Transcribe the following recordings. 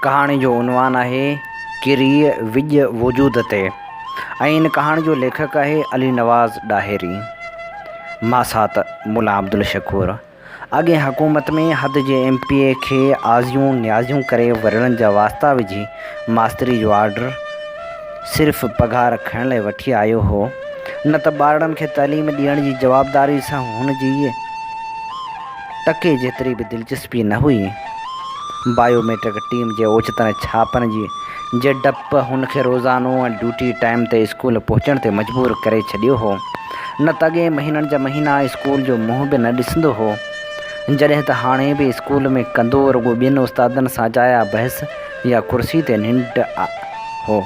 ڪهاڻي جو عنوان آهي ڪريء وڄ وجود تي ۽ ان ڪهاڻي جو ليکڪ آهي علي نواز ڏاهري. ماسات ملا عبدالشڪور اڳين حڪومت ۾ حد جي ايم پي اي کي آزيون نيازيون ڪري ورڙن جا واسطا وجهي ماستري جو آرڊر صرف پگهار کڻڻ لاء وٺي آيو هو نه ته ٻارڙن کي تعليم ڏيڻ جي جوابداري سان هن جي ٽڪي جيتري به دلچسپي نه هئي. بايو ميٽرڪ ٽيم جي اوچتن ڇاپن جي جي ڊپ هن کي روزانو ۽ ڊيوٽي ٽائيم تي اسڪول پهچڻ تي مجبور ڪري ڇڏيو هو. نه ته اڳي مهينن جا مهينا اسڪول جو منهن به نه ڏسندو هو. جڏهن ته هاڻي به اسڪول ۾ ڪندو رڳو ٻين استادن سان جايا بحث يا ڪرسي تي ننڊ هو.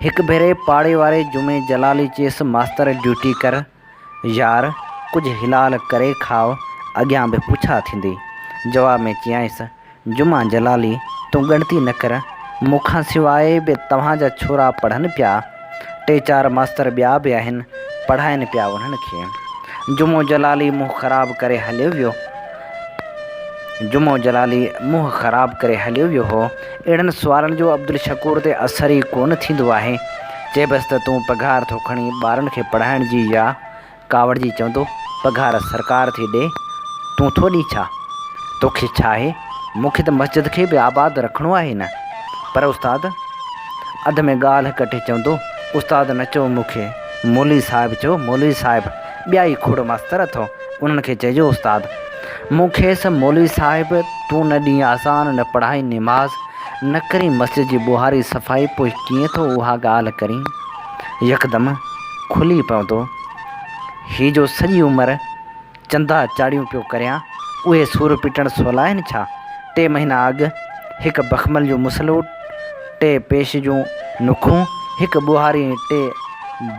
هڪ ڀيري پاڙي واري جمعي جلالي چيس ماستر ڊيوٽي ڪر. يار ڪجهه حلال ڪري کاء اڳيان به پڇا ٿيندي. جواب ۾ چيائينس، جمعه جلالي تون ڳڻتي نه ڪر، مون کان سواء به توهان جا ڇورا پڙهن پيا. ٽي چار ماستر ٻيا به آهن، پڙهائين پيا انهن کي. جمعو جلالي منهن خراب ڪري هليو ويو. جمعو جلالي منهن خراب ڪري هليو ويو هو. اهڙن سوالن جو عبدالشڪور تي اثر ئي ڪونه ٿيندو آهي. چئبس ته تون پگهار ٿو کڻي ٻارن کي پڙهائڻ جي يا ڪاوڙجي چوندو پگهار سرڪار ٿي ڏئي تون ٿو ڏئين ڇا؟ توکي ڇا آهي؟ مون کي ته مسجد کي به آباد رکڻو آهي نه؟ پر استاد اڌ ۾ ڳالهه ڪٽي چوندو استاد نه چئو مون کي مولوي صاحب چئو مولوي صاحب ٻيا ئي کوڙ ماستر اٿئو. انهن کي چئجو استاد! مون کيس مولوي صاحب تون نه ڏينهن اذان نه پڙهائين نماز نه ڪرين مسجد جي ٻوهاري صفائي پوء ڪيئن ٿو اها ڳالهه ڪرين؟ يڪدم کلي پوندو. هي جو سڄي عمر چندا چاڙهيون پيو ڪريان اهي سور پٽڻ سولا آهن ڇا؟ ٽي مهينا اڳ هڪ بخمل جو مسلو ٽي پيش جون نوکون، هڪ ٻوهاري ۽ ٽي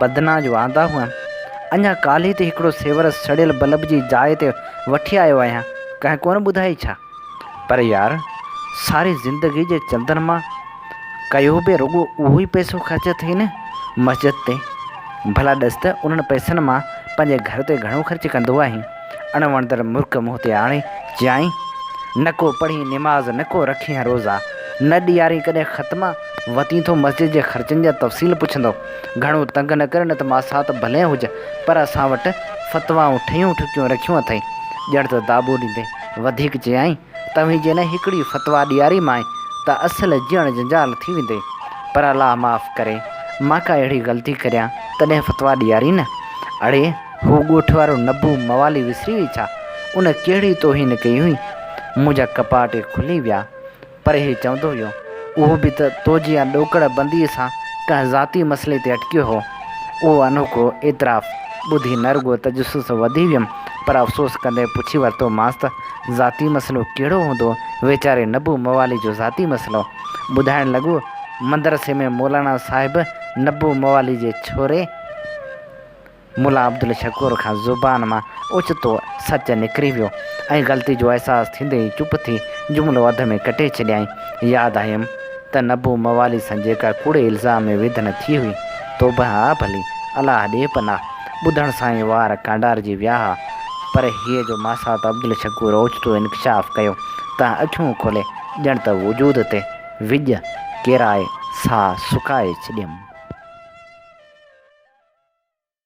بدنان جو آندا هئا. اڃا ڪالهي تي هڪڙو سيور سڙيل بلب جي جاء تي وٺي آيو آهيان، ڪنهن ڪونه ٻڌائي ڇا؟ پر يار، ساري زندگي جي چندن مان ڪيو به رڳو اهو ئي پئسو خرچ ٿئي نه مسجد تي. ڀلا ڏس ته انهن پئسن مان پنهنجي گهر تي گهڻو خرچ ڪندو آهين؟ اڻ وڻندڙ مرڪ منهن تي آڻي چيائين، نه ڪو پڙهين نماز نه ڪو رکين روزا، نه ڏيارين ڪڏهن ختمه، وتين ٿو مسجد جي خرچن جا تفصيل پڇندو، گهڻو تنگ نه ڪر نه ته ماسات ڀلين هج پر اسان وٽ فتوائون ٺهيون ٺڪيون رکيون اٿئي. ڄڻ ته داٻو ڏيندي وڌيڪ چيائين، توهين جي نه هڪڙي فتويٰ ڏياري مانء ته اصل جيئڻ جنجال ٿي ويندي. پر الله معاف ڪري مان ڪا اهڙي غلطي ڪريان تڏهن فتويٰ ڏيارين نه. اڙي! هو ڳوٺ وارو نبو موالي وسري وئي ڇا؟ ان ڪهڙي توهين ڪئي هئي؟ منهنجا ڪپاٽ کلي ويا. پر هي چوندو ويو، اهو به ته تو جيان ڏوڪڙ بنديء سان ڪنهن ذاتي مسئلي تي اٽڪيو هو. اهو انوکو اعتراف ٻڌي نه رڳو تجسس وڌي ويم، پر افسوس ڪندي پڇي ورتومانس ته، ذاتي مسئلو ڪهڙو هوندو ويچاري نبو موالي جو ذاتي مسئلو؟ ٻڌائڻ لڳو، مدرسي ۾ مولانا صاحب نبو موالي جي ڇوري، ملا عبدالشڪور کان زبان مان اوچتو سچ نڪري ويو ۽ غلطي جو احساس ٿيندي ئي چپ ٿي جملو اڌ ۾ ڪٽي ڇڏيائين. ياد آيم ته نبو موالي سان جيڪا ڪوڙي الزام ۾ ويڌن ٿي هئي، توبه آ ڀلي، الله ڏي پناهه، ٻڌڻ سان ئي وار ڪانڊارجي ويا ها، پر هيء جو ماسات عبدالشڪور اوچتو انڪشاف ڪيو ته اکيون کولي ڄڻ ته وجود تي وڄ ڪيرائي ساهه سڪائي ڇڏيم.